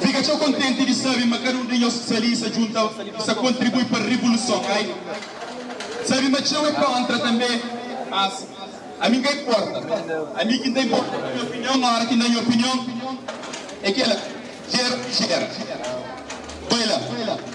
Fika txeu kontenti di sabe ma kada un di nhos ki sta li sta djunta i sta kontribui pa revoluson. Ai sabe ma txeu é kontra tanbe, mas ami n ka inporta. Ami ki n ta inporta é nha opinion, óra ki n da nha opinion é kel la, jera o ki jera. Bai la.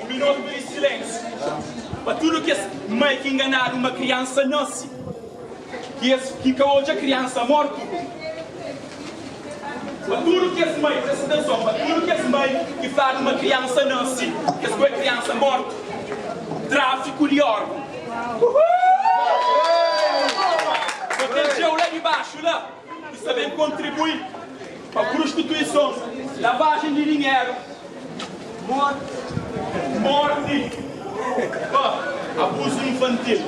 Un minutu di silénsiu pa tudu kes mai ki nganadu ma kriansa nase ki es ki ka odja kriansa mortu pa tudu kes mai presta atenson pa tudu kes mai ki fladu ma kriansa nase ki es koi kriansa mortu trafiku di organ protegeu la di baxu la. Ki sta ben kontribui pa prustituison, lavajen di dinheru, morti, pa abuzu infantil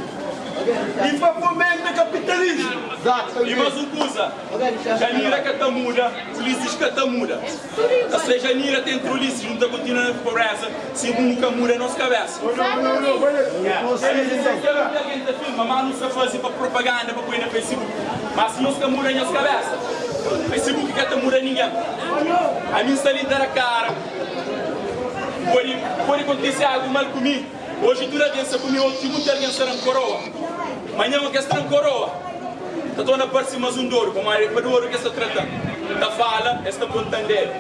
y pa fomenta kapitalismu. Y mas un kuza, Djanira ka ta muda, Ulisses ka ta muda. Ka seja mira ten trulice nu ta kontinua na pobreza si bu nu ka muda nos kabesa Elis ka ben pa algen ta filma ma nu sta fazi pa propaganda pa poi na facebook ma si nos ka muda nhos kabesa facebook ka ta muda ningen ami sta li ta da kara podi podi kontise algu mal ku mi. Oji tudu algen sa kume otu i monti algen sa dan koroa. Manhan o ke sa dan koroa ta torna parse mas un dodu, pamodi e pa dodu ke sa tratan. N ta fala, es ta pon tandera.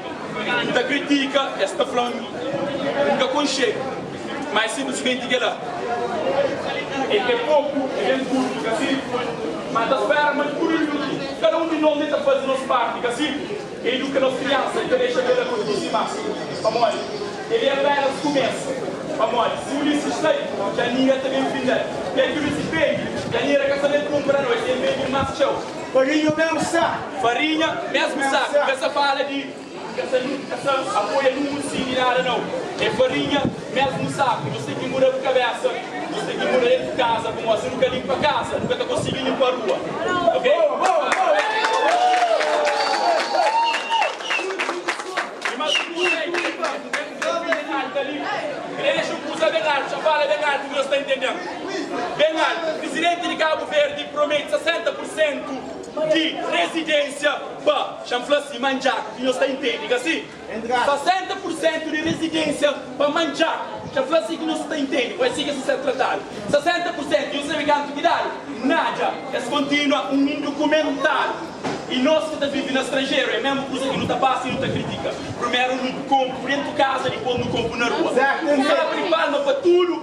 N ta kritika, es ta flan N ka konxedu. Ma e sinplismenti kela. E ke poku, e ben kurtu, ka si? Ma N ta spera ma tudu i tudu, kada un di nos li ta faze nos parti, ka si? Eduka nos kriansa i ka dexa bela kontinua dimás, pamodi el é apénas kumesa. Pamodi si un linsi strai, kaminha ta ben findal, pé ki un linsi fendi, kanhera ka sa ben kunpra noiti, el ben bin más txeu. Farinha mésmu sa. Farinha mésmu sa, ka sa fala di, ka sa apoia nunhun sindi nada nau, é farinha. Mesmu saku nhos ten ki muda bu kabesa nhos ten ki muda el ku kaza pamodi si nu ka linpa kaza nu ka ta konsigi linpa rua ok i mas ki tudu ei ten un desafio ben altu ali krexe un kuza ben altu xa fala ben altu nhos ta intendem ben altu prisidenti di kabu verdi prometi 60 pur sentu di rezidensia pa xa n fla si manjaku ki nhos ta intendi ka si. 60 pur sentu di rezidensia pa manja dja fla si ki no sta intendi pa esi ki sta ser tratadu 60 pur sentu di un sabe kantu ki idadi nadja es kontinua un indukumentadu i nos ki ta vivi na stranjeru e mesmu kusa ki nu ta pasa i nu ta kritika primeru nu konpu dentu kaza dipos nu konpu na rua un abri palma pa tudu.